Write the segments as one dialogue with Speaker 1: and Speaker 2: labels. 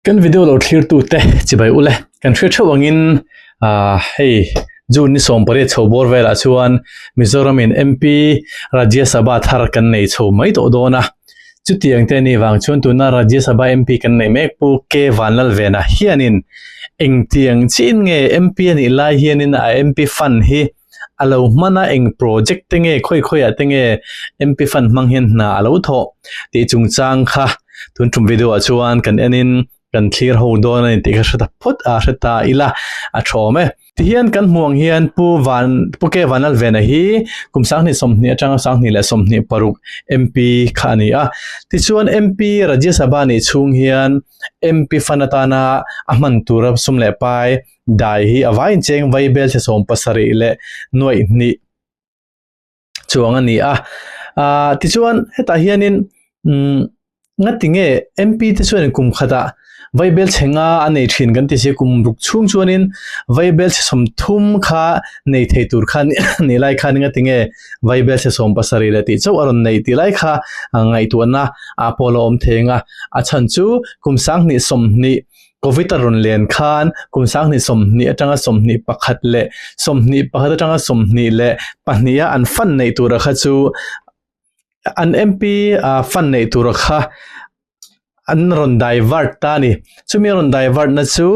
Speaker 1: Kan video lo thlir tu te chibai ule kan hria theuh ang in ahh hei june ni sawm pariat chho bawr velah chuan mizoram in MP rajya sabha thar kan nei chho mai tawh dawn a chuti ang te a nih vang chuan tuna rajya sabha MP kan nei mek pu K Vanlalven a hian in engtiang chin nge MP a nih lai hian in a MP fund hi A lo hman a, eng project te nge, khawi khawi ah te nge MP fund hmang hian hna a lo thawh tih chungchang kha tun tum video ah chuan kan en in kan thlir ho dawn a ni tih kha hre ta phut a, hre ta ila a thawm e. Ti hian kan hmuh ang hian Pu Van, Pu K Van Lalvena hi kum sanghnih sawmhnih atanga sanghnih leh sawmhnih paruk MP kha a ni a. Tichuan MP Rajya Sabha nih chhung hian MP fund atana a hman tura sum leh pai Dai hi a vai incheng vai bel che sawm pasarih leh nuaih hnih chuang a ni a. Aah tichuan hetah hianin umm ngatinge MP te chuanin kum khatah vai bel che nga a nei thin kan ti si a, kum ruk chhung chuanin vai bel che sawm thum kha nei thei tur khan nih lai khan ngatinge vai bel che sawm pasarih leh tih chauh a rawn neih tih lai kha ngaihtuahna a pawh la awm thei ang a. A chhan chu kum sang hnih sawm hnih Covid-a rawn len khan kum sanghnih sawmhnih atanga sawmhnih pakhat leh sawmhnih pakhat atanga sawmhnih leh pahniha an fund neih tura kha chu an MP fund neih tura kha an rawn divert ta a ni. Chumi a rawn divert na chu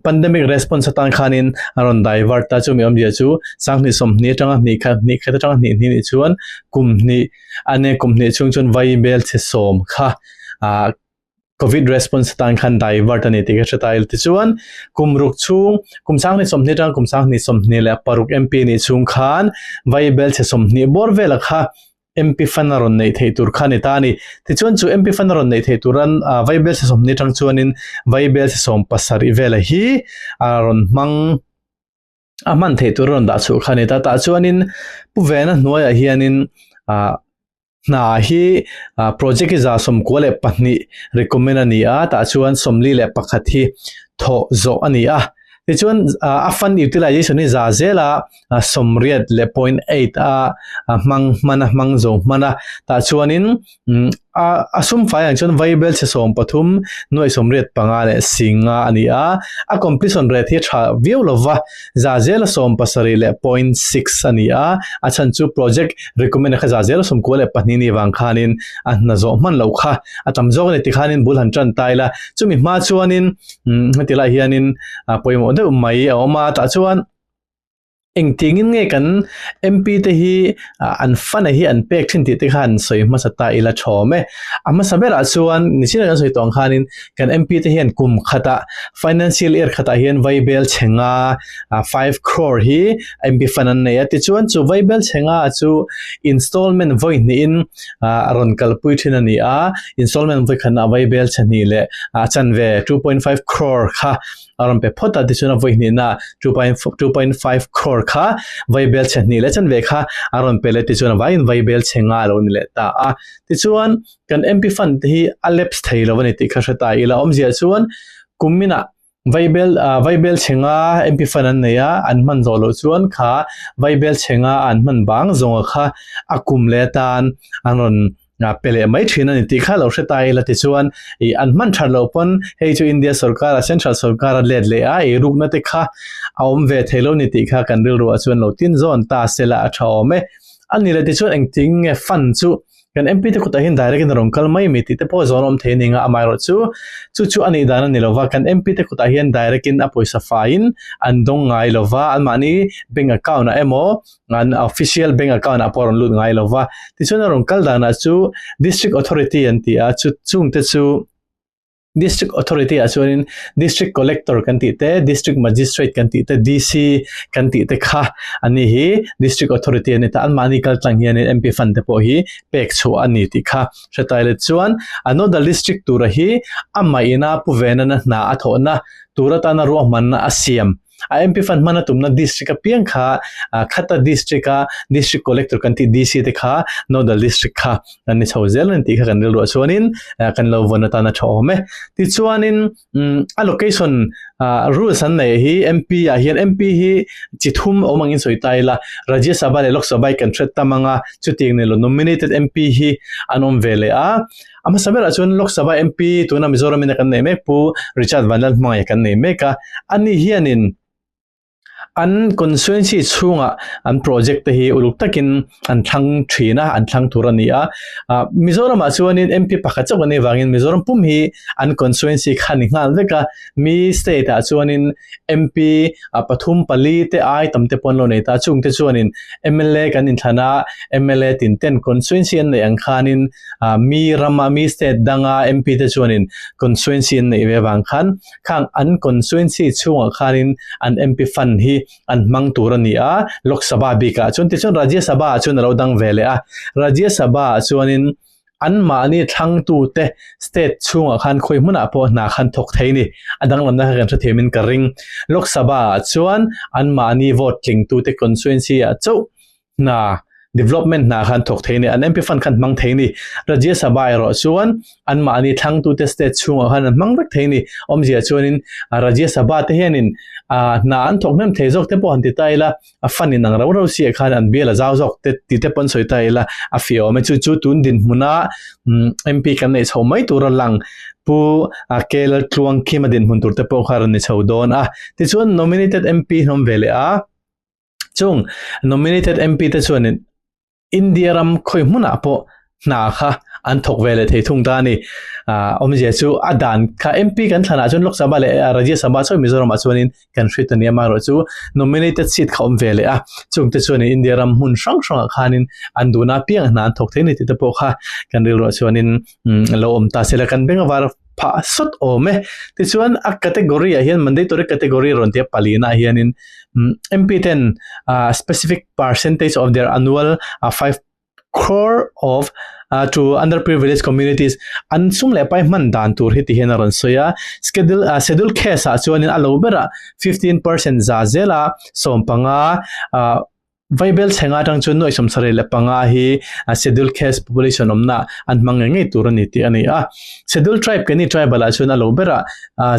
Speaker 1: pandemic response atan khanin a rawn divert a, chumi awmzia chu sanghnih sawmhnih atanga hnih khat hnih khat atanga hnih hnih nih chuan kum hnih a nia, kum hnih chhung chuan vaibel chhisawm kha Covid response atan khan divert a ni tih ka hre ta ila tichuan kum ruk chhung kum sang hnih sawmhnih atang kum sang hnih sawmhnih leh paruk MP nih chhung khan vai bel chhe sawmhnih bawr vela kha MP fan a rawn neih theih tur kha a ni ta a ni. Tichuan chu MP fan a rawn neih theih tur an vai bel chhe sawmhnih atang chuanin vai bel chhe sawm pasarih vela hi a rawn hmang a hman thei tur a rawn dah chhuh kha a ni ta tah chuanin pu vena hnuaiah hianin ah hna hi ah project iza sawmkua leh pahnih recommend a ni a tah chuan sawmli leh pakhat hi thawh zawh a ni a tichuan ah a fund utilization hi za zela ah sawmriat leh point eight a hmang hmana hmang zo hmana tah chuanin A sum fai ang chuan Vaibel chi sawm pathum, nuaih sawmriat panga leh singa a ni a. A completion rate hi a tha viau lo va, za zela sawm pasarih leh point six a ni a. A chhan chu project recommend a kha za zela sawm kua leh pahnih ni vang khanin a hna zawh hman loh kha. A tam zawk a ni tikhanin bul han tan ta ila. Chumi hma chuanin heti lah hianin pawimawh deuh mai a awm a. Tah chuan. Engtiangin nge kan MP te hi an fan a hi an pek thin tih te khan sawi hmasa ta ila thawm e. A hmasa berah chuan nihchin a kan sawi tawng khanin kan MP te hian kum khata financial year khatah hian vaibel chhenga five crore hi MP fan an nei a tichuan chu vaibel chhenga chu installment vawi hnihin a rawn kalpui thin a ni a. Installment vawi khatnah vaibel chhe hnih leh a chanve two point five crore kha a rawn pe phawt a tichuan a vawi hnihna two point two point five crore kha vaibel chhe hnih leh chan ve kha a rawn pe leh tichuan vangin vaibel chhe nga a lo ni leh ta a tichuan kan MP fund te hi a lapse thei lo a ni tih kha hre ta ila awmzia chuan kum minah vaibel vaibel chhe nga MP fund an nei a an hman zawh loh chuan kha vaibel chhe nga an hman bang zawnga kha a kum leh atan an rawn a pe leh mai thin a ni tih kha lo hre ta ila tichuan i an hman that loh pawn hei chu India sawrkar a central sawrkar a let leh a i rukna te kha a awm ve thei lo ni tih kha kan rilru ah chuan lo tin zawn ta sela a tha awm e a ni leh tichuan engtin nge fund chu kan MP te kutah hian direct in a rawn kal mai mi tih te pawh zawn awm thei a ni ang a amaherawh chu chu chu a nih dan a ni lova kan MP te kutah hian direct in a pawisa faiin an dawng ngai lova anmahni bank account ah emaw an official bank account ah pawh a rawn lut ngai lova tichuan a rawn kal danah chu district authority an ti a chu chungte chu district authority ah chuanin district collector kan tih te district magistrate kan tih te DC kan tih te kha ani hi district authority ani ta anmahni kaltlang hian MP fund te pawh hi pek chhuah ani tih kha hretai let chuan another district tura hi amaina puvenana hna a thawhna tura tana ruahmanna a siam A MP fund hmana tumna district apiang kha Khata district a district collector kan tih DC te kha nodal district kha kan ni chho zel a ni tih kha kan rilruah chuanin kan lo vawn atan a tha awm e. Tichuanin allocation rules an nei hi MP ah hian MP hi chi thum awm angin sawi ta ila Rajya Sabha leh Lok Sabha hi kan hriat tam anga chutiang nelo nominated MP hi an awm ve leh a. A hmasa berah chuan Lok Sabha MP tuna Mizoram ina kan nei mek pu Richard Vanlal hmangaia kan nei mek a, ani hianin an constituency chhunga an project te hi uluk takin an thlang thin a, an thlang tur a ni a. Mizoramah chuanin MP pakhat chauh kan nei vangin Mizoram pum hi an constituency kha a ni nghal vek a, mi state ah chuanin MP pathum pali te ai tam te pawh an lo nei ta a, chungte chuanin MLA kan inthlan a, MLA tinten constituency an neih ang khanin, mi ram a, mi state danga MP te chuanin constituency an neih ve vang khan khang an constituency chhungah khanin an MP fund hi an hmang tur a ni a, Lok Sabha bikah chuan. Tichuan Rajya Sabha ah chuan a lo dang ve leh a, Rajya Sabha ah chuanin anmahni thlangtute state chhungah khan khawi hmunah pawh hna khan thawk thei ni, a danglamna kha kan hre thiamin ka ring. Lok Sabha ah chuan anmahni vote tlingtute constituency ah chauh hna, development hna khan thawk thei ni, an MP fund khan hmang thei ni, Rajya Sabha erawh chuan anmahni thlangtute state chhungah khan an hmang vek thei ni, awmzia chuanin Rajya Sabha te hianin hna an thawk hnem thei zawk te pawh han ti ta ila, fund in ang rau rau si ah khan an bial a zau zawk te tih te pawh an sawi ta ila a fiawm e, chu chu tun dinhmuna MP kan neih chho mai tur a lang Pu Kei Laltluangkhima dinhmun tur te pawh kha rin ni chho dawn a, tichuan nominated MP hlawm ve leh a. Chung nominated MP te chuan in India ram khawi hmunah pawh hna kha an thawk ve leh thei thung ta a ni. Awmzia chu a dan kha MP kan thlanah chuan Lok Sabha leh Rajya Sabha sawi Mizoram ah chuan in kan hrit a ni. Amah erawh chu nominated seat kha awm ve leh a, chung te chuan in India ram hmun hrang hrang ah khan in an duhna apiang a hna an thawk thei a ni tih te pawh kha kan rilruah chuan in lo awm ta sela kan beng a var. phah sawt awm e. Tichuan a category ah hian mandatory category a rawn tia pali naah hianin MP ten specific percentage of their annual five crore of to underprivileged communities an sum leh pai hman dan tur hi ti hian a rawn sawi a. Schedule schedule case ah chuan a lo berah fifteen percent za zela sawm panga ahh. Vaibel chheng atang chuan nuaih sawmsarei leh panga hi Scheduled Caste Population awmna an hmang ngei ngei tur a ni tih a ni a. Scheduled Tribe keni Tribal ah chuan a lo ber a,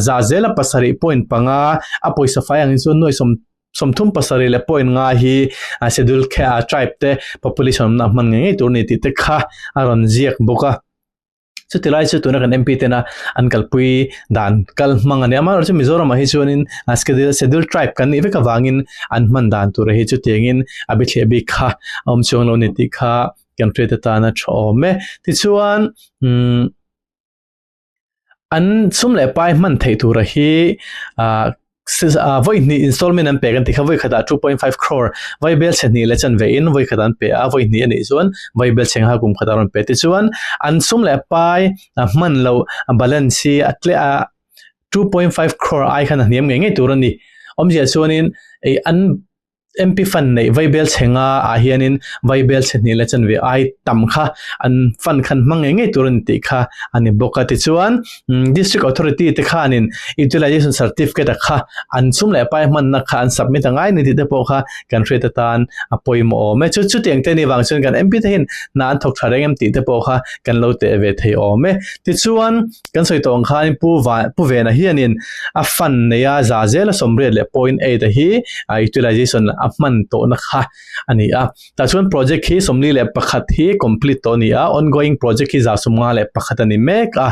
Speaker 1: za zela pasarih point panga a pawisa fai angin chuan nuaih sawm sawmthum pasarih leh point nga hi Scheduled Tribe te Population awmna an hman ngei ngei tur a ni tih te kha a rawn ziak bawk a. chuti lai chu tuna kan MP ten a an kalpui dan kal hmang a ni amaherawh chu Mizoram ah hi chuanin schedule schedule tribe kan nih vek avangin an hman dan tur hi chuti angin a biathleh bik kha a awm chuang lo a ni tih kha kan hriat atana tha awm e tichuan umm an sum leh pai hman theih tura hi ah vawi hnih installment an pek an ti kha vawi khatah two point five crore vawi bel chhe hnih leh chanve in vawi khatah an pe a vawi hnih anih chuan vawi bel chhe nghal kum khatah a rawn pe tichuan an sum leh a pai a hman loh balance hi a tle a two point five crore ai khan a hniam ngei ngei tur a ni awmzia chuan in an Mpi fan neih vai bel chhe nga ah hianin vai bel chhe hnihna chanve ai tam kha an fan khan hmang ngei ngei tur a ni tih kha a ni bawk a. Tichuan, District Authority te khanin Utilisation Certificate a kha an chhum leh pai hmanna kha an submit a ngai a ni tih te pawh kha kan hriat atan a pawimawh awm e. Chu chuti engte ni vang chuan kan Mpi te hian hna an thawk tha reng em tih te pawh kha kan lo teh ve thei awm e. Tichuan, Kan sawi tawh ang khanin Pu Van, Pu Vena hianin a fan nei a, za zela sawmriat leh point eight a hi utilization a hman tawhna kha a ni a. Tah chuan project khi sawmli leh pakhat hi complete tawh a ni a, ongoing project hi za sawmnga leh pakhat a ni mek a.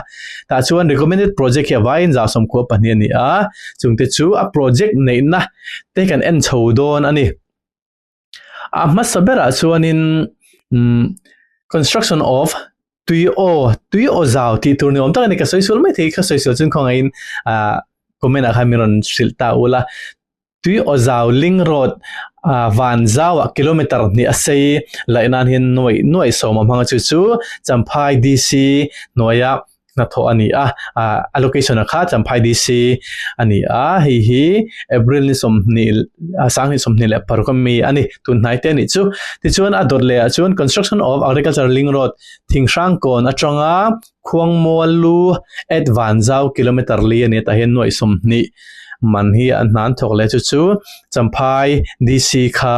Speaker 1: Tah chuan recommended project hi a vaiin za sawmkhua pahnih a ni a, chungte chu a project neihna te kan en chho dawn a ni. A hmasa berah chuanin construction of tui aw, tui aw zau tih tur ni awm tak a ni. Ka sawi sual mai thei, ka sawi sual chuan khawngaihin comment ah khan min rawn hrilh ta ul a. Tui aw zau Ling Road van zauah kilometre hnih a sei laih nanhin nuaih nuaih sawma hmanga chu chu Champhai DC hnuaia hnathawh a ni a, allocation-a kha tlamphai DC a ni a, hei hi April ni sawmhnih, Sang ni sawmhnih leh paruk ami a ni, tunhnai te a nih chu. Tichuan a dawt lehah chuan Construction of Agriculture Ling Road Thingshrang Kawn atanga Khuangmual lu at van zau kilometre li a ni a, tah hian nuaih sawmhnih man hi an hnan thawk leh chu chu Champhai DC kha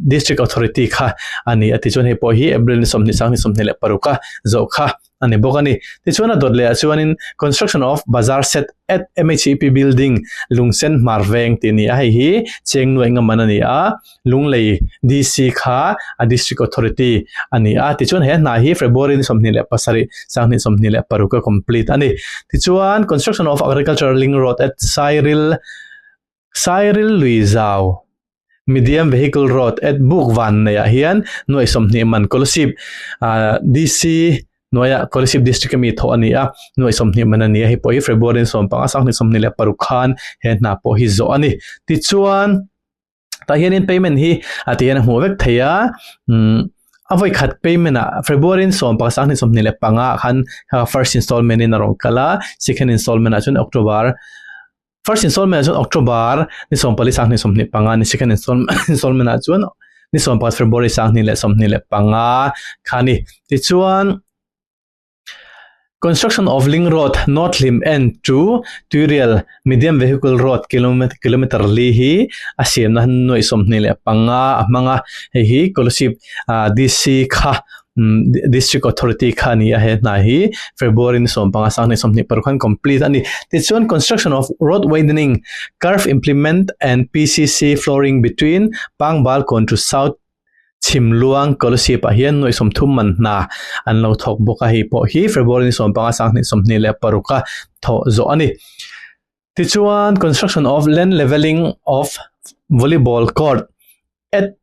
Speaker 1: District Authority kha a ni a tichuan hei pawh hi April ni sawmhnih sang ni sawmhnih leh paruk a zawh kha a ni bawk a ni tichuan a dawt leh ah chuan Construction of Bazar Set at MHEP Building Lungsen Hmarveng tih a ni a hei hi Chengnuai Nghaman a ni a Lunglei DC kha a District Authority a ni a tichuan he hna hi February ni sawmhnih leh pasarih sang ni sawmhnih leh paruk a complete a ni tichuan Construction of Agricultural Ring Road at Sairil. Sairil lui zau Medium Vehicle Road at Buk Vanneih ah hian Nuaih Sawmhnih Man Kolasib DC hnuaia Kolasib District ami thawh a ni a, Nuaih Sawmhnih Man a ni a, hei pawh hi February sawm panga Sanghnih sawmhnih leh paruk khan he hna pawh hi zawh a ni. Tichuan tah hianin payment hi a tih hian a hmuh vek thei a, a vawi khat payment ah February sawm panga Sanghnih sawmhnih leh panga ah khan first installment in a rawn kal a, second installment ah chuan October First installment ah chuan October ni sawmpali sanghnih sawmhnih panga ni second installment ah chuan ni sawmpakhat February sanghnih leh sawmhnih leh panga kha ni tichuan construction of link road north hlim end to tuirial medium vehicle road kilometer li hi a siamna nuaih sawmhnih leh panga a hmang a hei hi scholarship dc kha District Authority kha a ni a, he hna hi February ni sawm panga sanghnih sawmhnih paruk khan complete a ni. Tichuan construction of road widening, curve implement and PCC flooring between Pangbalkawn to South Chhimluang Colosseum ah hian nuaih sawmthum man hna an lo thawk bawk a, hei pawh hi February ni sawm panga sanghnih sawmhnih leh paruk a thawh zawh a ni. Tichuan construction of land levelling of volleyball court at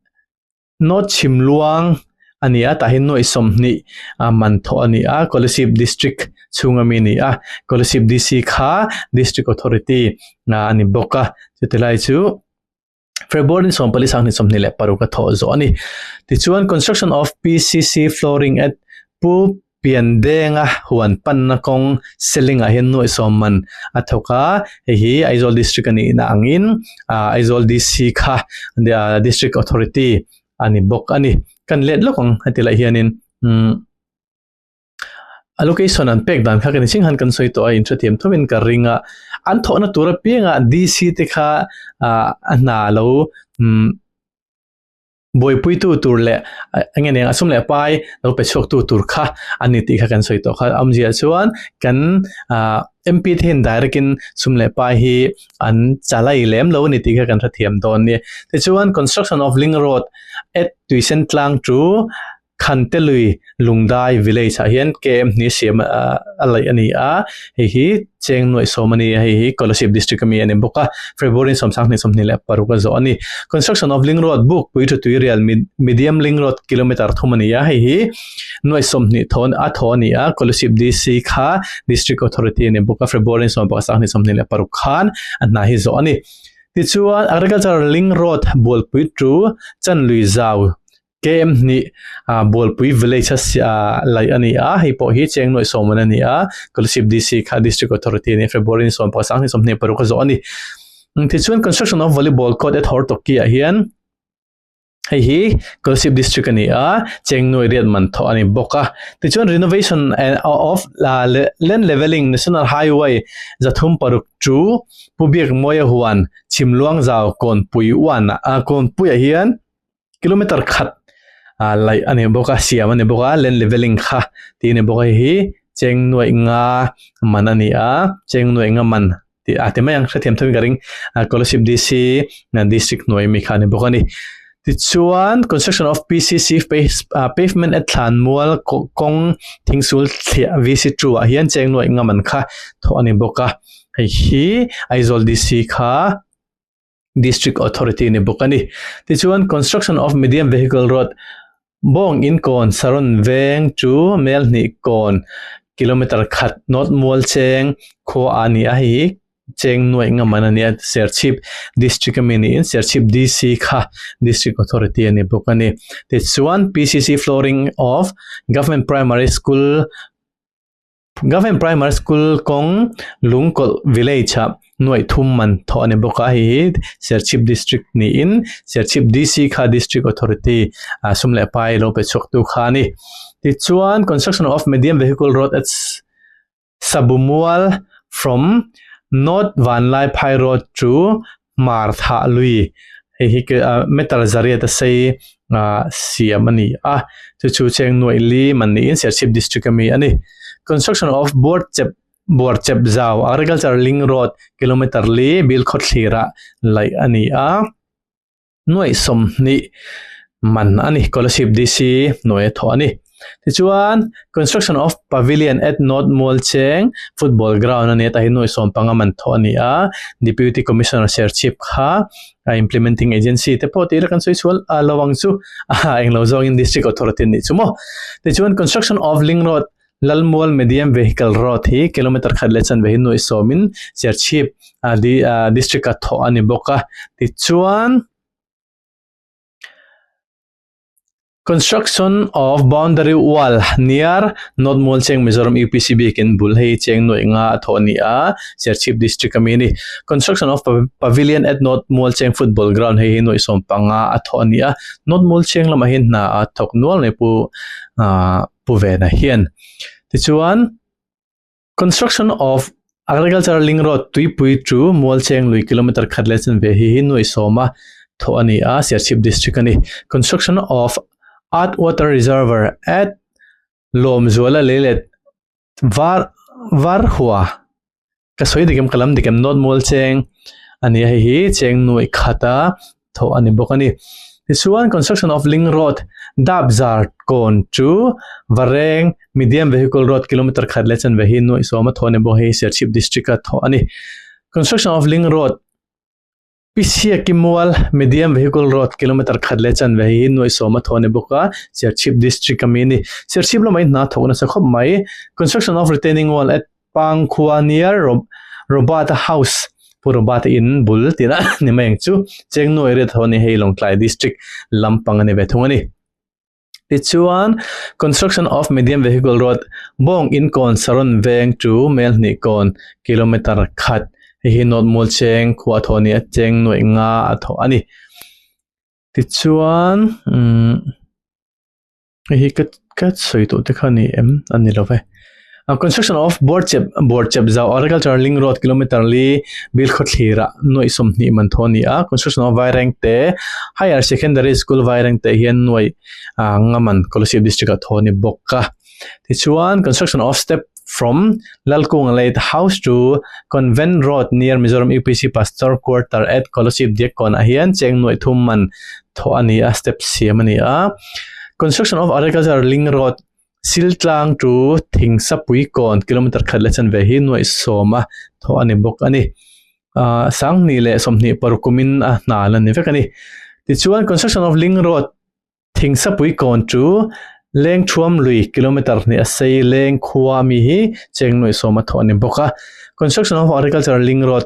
Speaker 1: Naw chhim luang a ni a, tah hian nawi sawmhnih a man thawh a ni a, Kolasib District chhunga mi a ni a, Kolasib DC kha District Authority a ni bawk a, chuti lai chu February sawm pali sanghnih sawmhnih leh paruk a thawh zawh a ni. Tichuan, Construction of PCC flooring at Pu Pian benga huan panna kawng ceiling ah hian nuaihsawm man a thawk a, hei hi Aizawl District a nihna angin Aizawl DC kha District Authority a ni bawk a ni. Kan let lawk ang heti lah hianin allocation an pek dan kha ka ni ching han kan sawi tawh a, inhre thiam thawmin ka ring a, an thawhna tur apiangah DC te kha a hna lo Buaipuitu tur leh enge nen a sum leh pai lo pe chhuaktu tur kha an ni tih kha kan sawi tawh kha. Awm ziah chuan kan MP te hian direct in sum leh pai hi an chalai lem lo a ni tih kha kan hrethiam dawn a ni. Tichuan construction of link road at Tuisentlangtu Khantelui Lungdai village ah hian kmhni siam a laih a ni a, hei hi Chengnuai sawm a ni a, hei hi Kolasib district ami a ni bawk a, February sawmsang hnih sawmhnih leh paruk a zawh a ni. Construction of Ling Road Buk Pui Thu Tui Rial Medium Ling Road kilometre thum a ni a, hei hi Nuai sawmhnih thawn a thaw a ni a, Kolasib DC kha district authority a ni bawk a, February sawm pakhat sang hnih sawmhnih leh paruk khan a hna hi zawh a ni. Tichuan Agriculture Ling Road Bualpui Tru Chanlui Zau KM hnih ah Bualpui village a si a laih a ni a, hei pawh hi Cheng Nuaih sawmawna a ni a, Kalashib DC kha District Authority nih February ni sawm pakhat sang ni sawm hnih paruk a zawh a ni. Tichuan construction of volleyball court at Hawrtawkki ah hian hei hi Kalashib District a ni a, Cheng Nuaih riat man thawh a ni bawk a. Tichuan renovation of land levelling National Highway za thum paruk chu Pu Biak Mawia huan Chhimluang zau Kawnpui uan Kawnpuiah hian kilometer khat ah laih a ni bawk a siam a ni bawk a len leveling kha tih a ni bawk a hei hi cheng nuaih nga man a ni a cheng nuaih nga man tih a ti mai ang hrethiam thawmin ka ring ah Kohlership DC district hnuai ami kha a ni bawk a ni tichuan construction of PCC ah pavement at thlanmual kawng thing sul thliah VC two ah hian cheng nuaih nga man kha thawh a ni bawk a hei hi Aizawl DC kha. District Authority ni bawk a ni. Tichuan Construction of Medium Vehicle Road bawng inkawn saron veng chu mel hnih kawn kilometre khat nawt mual cheng khua a ni a hi hi cheng nuaih ngam an a ni a Serchhip District a mi niin Serchhip DC kha District Authority a ni bawk a ni tichuan PCC Flooring of Government Primary School Government Primary School kawng Lungkawlh Village ah nuaih thum man thawh a ni bawk a, hei hi Serchhip District niin Serchhip DC kha District Authority a sum leh pai lo pe chhuak tu kha a ni. Tichuan Construction of Medium Vehicle Road at Sabumual from North Vanlai Phai Road to Hmar thah lui, hei hi metal zariat a sei nga siam a ni a, chu chu cheng nuaih li man niin Serchhip District a mi a ni. Construction of Buarchep, Buarchep zau, Agriculture Link Road, kilometre li bil khawthlir ah laih a ni a. nuaih sawmhnih man a ni scholarship DC nuaih a thawh a ni tichuan construction of pavilion at note mualcheng football ground a ni a tah hi nuaih sawm panga man thawh a ni a deputy commissioner serchhip kha a implementing agency te pawh tih ila kan sawi chhual a lo ang chu a englo zawngin district authority a nih chu maw tichuan construction of lingroad Lalmual Medium Vehicle Road hi kilometre khat leh chanve hi nuaih sawmin Cherchhip District a thawh a ni bawk a. Tichuan, Construction of Boundary Wall near North Mual Cheng Mizoram UPC biakin bul hi cheng nuaih nga a thawh a ni a, Cherchhip District ami a ni. Construction of Pavilion at North Mual Cheng Football Ground hei hi nuaih sawm panga a thawh a ni a, North Mual Cheng lamah hi hna a thawk nual mai pawh a. pu vena hian tichuan construction of agriculture ling road tuipui to mualcheng lui kilometre khat leh chen ve hi hi nuaih sawm a thaw a ni a siachhip district a ni construction of art water reserver at lawmzuala lei let Var var hua ka sawi dik em ka lam dik em not mual cheng a ni a hei hi cheng nuaih khata thawh a ni bawk a ni tichuan construction of ling road dap zar kawn chu vareng medium vehicle road kilometer khat leh chan ve hi nuaih sawm a thawh a ni bawk a hei hi serchhip district a thawh a ni construction of ling road Pisiak i mual medium vehicle road kilometre khat leh chanve hi nuaih sawm a thaw a ni bawk a, Serchhip district ami a ni. Serchhip lama in hna thawk nasa khawp mai construction of retaining wall at Pangkhua near Robata house, Pu Robata in, bul tir a ni mai ang chu, Chengnuai riat ho a ni hei Lawngtlai district lampang a ni ve thung a ni. Tichuan, Construction of Medium Vehicle Road, Bawng in kawn Saron veng chu mel hnih kawn kilometre khat, hei hi North Mualcheng khuaa thaw nia, cheng nuaih nga a thaw a ni. Tichuan, umm, hei hi ka ka sawi tawh te kha ni em? A ni lo e. A construction of Buarchep Buarchep zau agricultural ling road kilometre li bil khaw thlir ah nuaih sawmhnih man tho a ni a construction of Vaireng te higher secondary school Vaireng te hian nuaih ah anga man Kolasib district ah tho a ni bawk a tichuan construction of step from Lalkung late house to convent road near Mizoram UPC pastor quarter at Kolasib diak kawn ah hian cheng nuaih thum man tho a ni a step siam a ni a construction of agricultural ling road Siltlang chu thing sapui kawn kilometer khat leh chanve hi nuaih sawm a thaw a ni bawk a ni. Ahh sanghnih leh sawmhnih paruk awmin a hnal a ni vek a ni. Tichuan construction of Ling Road thing sapui kawn chu leng thuam lui kilometer hnih a sei leng khua ami hi cheng nuaih sawm a thaw a ni bawk a. Construction of agricultural Ling Road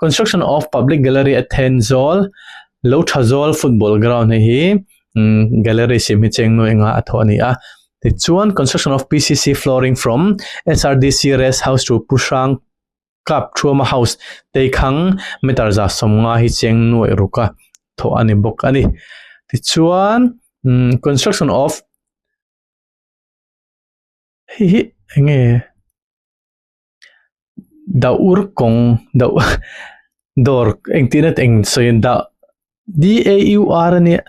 Speaker 1: Construction of public gallery a then zawl lo tha zawl football ground hei hi gallery siam hi cheng nuai anga a thawh a ni a. Tichuan construction of PCC flooring from SRDC rest house to Puhrang kap thuama house teikhang meter zah sawm nga hi cheng nuai ruk a thawh a ni bawk a ni. Tichuan construction of hei hi eng nge. dah ur kawng dah ur dawr engtihna eng sawi a ni dah d a u r a nia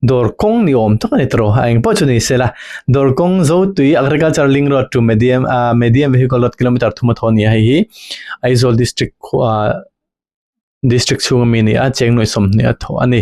Speaker 1: dawr kawng ni awm tak a ni ta raw a engpawh chu ni sela dawr kawng zo tui agriculture ling road to medium ah medium vehicle road kilometre thum a thaw a ni a hei hi Aizawl district khuh ah district chhung ami a ni a Chengnuaisawm hnih a thaw a ni.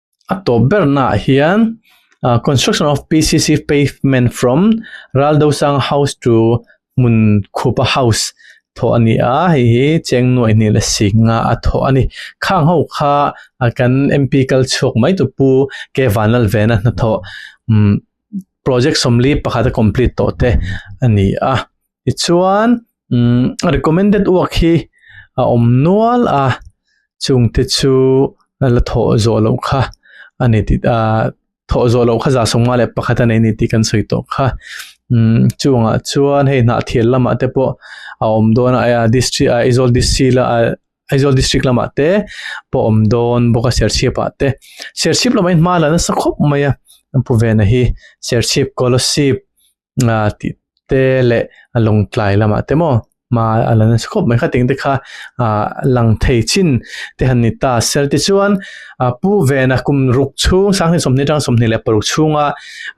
Speaker 1: a tawp bernah hian ah construction of PCC pavement from Raldosang house to hmun khupa house thawh a ni a hei hi Chengnuai hnih la sik nga a thawh a ni. Khang ho kha ah kan MP kal chhuak mai tu Pu K Vanlalvena hnathawh umm project sawmli pakhat a complete tawh te a ni a. Tichuan umm recommended uak hi a awm nual a, chung te chu la thawh zawh loh kha a ni tih ah thawh zawh loh kha za sawng mah leh pakhat a nei ni tih kan sawi tawh kha. Umm chung ah chuan hei hnah thial lamah te pawh a awm dawn a, aia district ah Aizawl district la ah Aizawl district lamah te pawh a awm dawn bawk a Serchhip ah te. Serchhip lamah in hma la nasa khawp mai a Pu Vena hi Serchhip, Kolasib, ah tih te leh a lawng tlai lamah te maw hma a la nasa khawp mai kha teng te kha ah lang thei chin te han ni ta. Serti chuan ah Pu Vena kum ruk chhung Sanghnih sawmhnih atanga sawmhnih leh paruk chhunga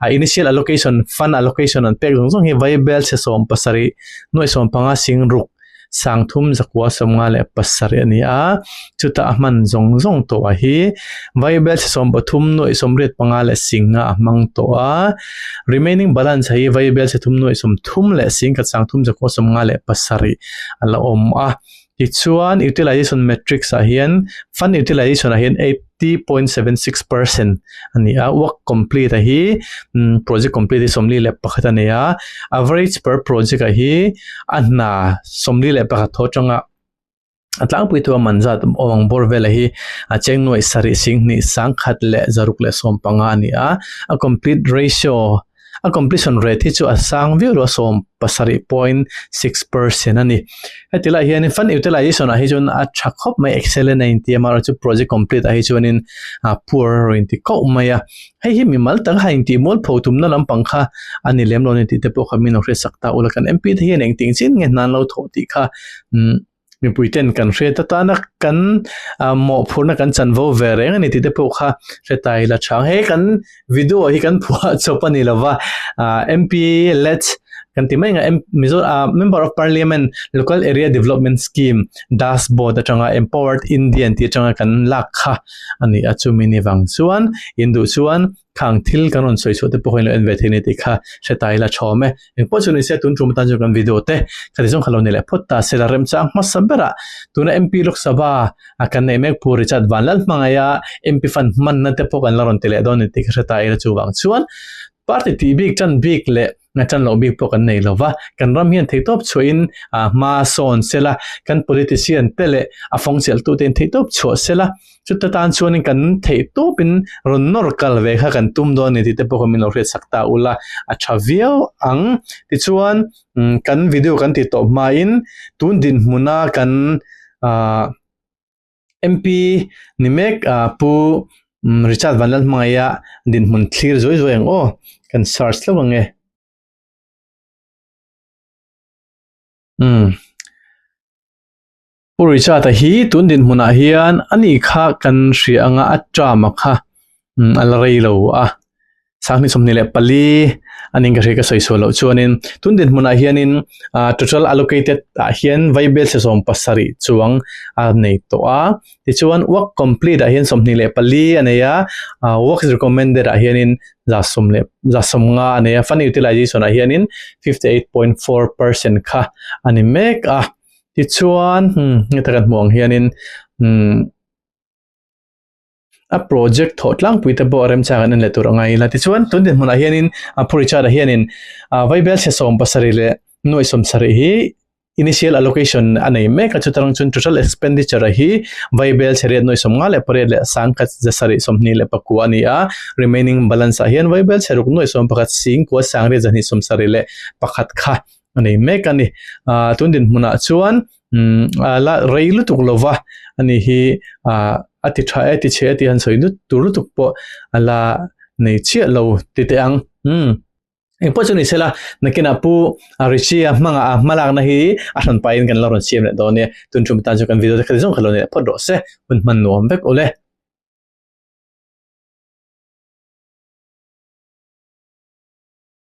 Speaker 1: ah initial allocation, fund allocation, an pek zawng zawng hi Vaibel chhe sawm pasarih nuaih sawm panga sing ruk, Sangthum zakua sawmnga leh pasarih a ni a, chuta a hman zawng zawng tawha hi Vaibel chi sawm pathum nuaih sawmriat panga leh singa a hmang tawh a. Remaining balance a hi Vaibel chi thum nuaih sawmthum leh singkat sangthum zakua sawmnga leh pasarih a la awm a. Tichuan, Utilization matrix ah hian, Fund utilization ah hian eight. fifty point seven six percent a ni a work complete ah hi imm project complete hi sawmli leh pakhat a nei a average per project ah hi a hna sawmli leh pakhat thaw tang a a tlangpui thung a man zat aw ang bawr vel ah hi a chengnuai sarih sing hnih sangkhat leh zaruk leh sawmpanga a ni a a complete ratio -- A completion rate hi chu a sang viau lo a sawm pasarih point six percent a ni. Heti laiah hian in fan utilisation ah hi chuan a tha khawp mai excellent a inti a mahro chu project complete ah hi chuan in a poor a rawn inti kauh mai a. Hei hi mimal tak a intih mual pho tumna lampang kha a ni lem lo a ni tih te pawh kha min lo hriatsak ta a ula kan MP te hian eng ting chin nge hna an lo thawh tih kha umm. Mipui ten kan hre ta ta na kan moh phur na kan chan vo ve reng ani ti te pawh kha hre ta ila chang. He kan video hi kan phuah chawp ani lo va MP let kan ti mai anga Mizo member of parliament local area development scheme das board atanga empowered Indian tih atanga kan lak kha ani a chumi ni vang chuan induh chuan Khang thil kan rawn sawi suahte pawhin lo en ve thei ni tih kha hretai ila chhawm e. Engpawh chu nise tun tum atan chuan kan video te khati zawng kha lo nei leh phawt ta, sela rem chang hmasa bera tuna MP Lok Sabha a kan neih mek Pu Richard Vanlal hmangaih a MP fan hmanna te pawh kan la rawn ti leh dawn ni tih kha hretai ila chuvang chuan party tih bik tan bik leh a chan loh bik pawh kan nei lo va, kan ram hian thei tawp chhuah in ah hma sawn sela, kan politician te leh a fawng chelh tu te'n thei tawp chhuah sela, chuta tan chuan kan thei tawp in rawn nawr kal ve kha kan tum dawn a ni tih te pawh min lo hriat sak ta ula a tha viau ang, tichuan kan video kan ti tawp hma in tun dinhmun a kan ah. MP ni mek a Pu Richard Vanlal hmangaih a dinhmun thlir zuai zuai ang aw, kan search hlauh ang e. Umm Pu Richard a hi tun dinhmunah hian a ni kha kan hria anga a tram a kha. a la rei lo a, sanghnih sawmhnih leh pali a ning ka hre ka sawi sual loh chuanin tundin hmunah hianin total allocated ah hian vaibel chhe sawm pasarih chuang a nei tawh a, tichuan work complete ah hian sawmhnih leh pali a nei a, works recommended ah hianin za sawm leh za sawm nga a nei a, fund utilisation ah hianin fifty eight point four percent kha a ni mek a, tichuan heta kan hmuh ang hianin umm. a project thawh tlangpui te pawh remchang an en leh tur a ngai ila. Tichuan, tun nen hmunah hianin a Phu Richard-a hianin Vaibel chhesawm pasarih leh nuaih sawm sarih hi initial allocation a nei mek a, chutang chuan total expenditure-a hi Vaibel chheriat nuaih sawm nga leh pariat leh sang khat za sarih sawmhnih leh pakua a ni a, remaining balance-ah hian Vaibel chheruk nuaih sawm pakhat, singkua sangriat zahnih sawm sarih leh pakhat kha a nei mek a ni. Ahh tun dinhmunah chuan umm a la rei lutuk lo va, a ni hi ahh a ti tha e, ti chhe e tih han sawi nut tur lutuk pawh a la nei chiah lo ti teh ang. Umm engpawh chu ni sela nakinah pu Richie-a hmanga a hma lakna hi a hran paiin kan lo rawn siam leh dawn ania, tun ṭum atan chuan kan video te kha ti zawng kha lo nei leh phawt rawh se, hun hman nuam vek u le.